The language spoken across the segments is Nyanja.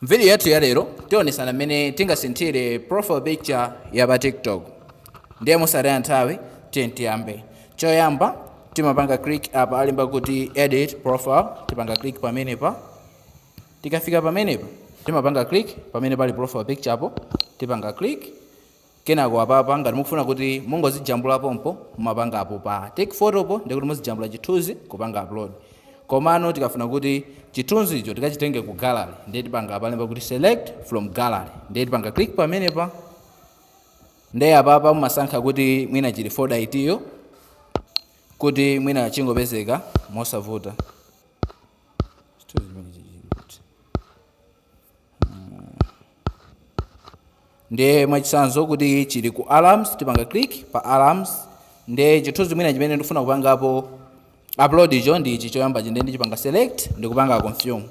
M'vidiyo yathu ya lero, tionetsana mmene tingasinthire profile picture ya pa TikTok. Ndiye mosataya nthawi, tiyeni tiyambe. Choyamba, timapanga click apa alemba kuti edit profile, tipanga click pamenepa. Tikafika pamenepa, timapanga click pamene pali profile picture po, tipanga click. Kenako apapa ngati mukufuna kuti mungozijambula pompo mumapanga apo pa take photo po ndekuti muzijambula chithunzi kupanga upload komano tikafuna kuti chithunzicho tikachitenge ku gallery ndiye tipanga apalemba kuti select from gallery ndiye tipanga click pamenepa ndiye apapa mumasankha kuti mwina chili folder itiyo kuti mwina chingopezeka mosavuta chithunzi chimene chichikuti ndiye mwachitsanzo kuti chili ku alarms tipanga click pa alarms ndiye chithunzi mwina chimene ndikufuna kupangapo upload icho ndi ichi choyambachi ndiye ndichipanga select ndikupanga confirm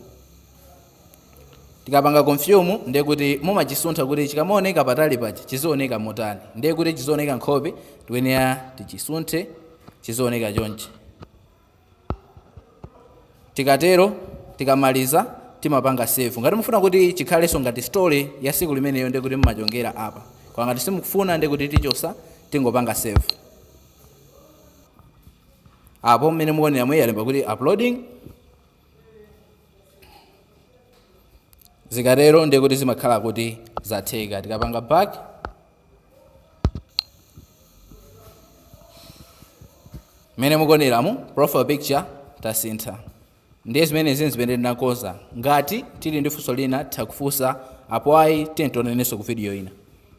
tikapanga confirm ndiye kuti mumachisuntha kuti chikamaoneka patali paja chizioneka motani ndiye kuti chizioneka nkhope tikuyenera tichisunthe chizioneka chonchi tikatero tikamaliza timapanga save ngati mufuna kuti chikhalenso ngati story ya siku limeneyo ndiye kuti mumachongera apa koma ngati simukufuna ndiye kuti tichosa tingopanga save apo mmene mukuonera mo alemba kuti uploading zikatero ndiye kuti zimakhala kuti zatheka tikapanga back mmene mukuoneramu profile picture tasintha ndiye zimenezi ndi zimene ndinakonza ngati tili ndi funso lina titha kufunsa apo ayi tiye tionanenso ku video ina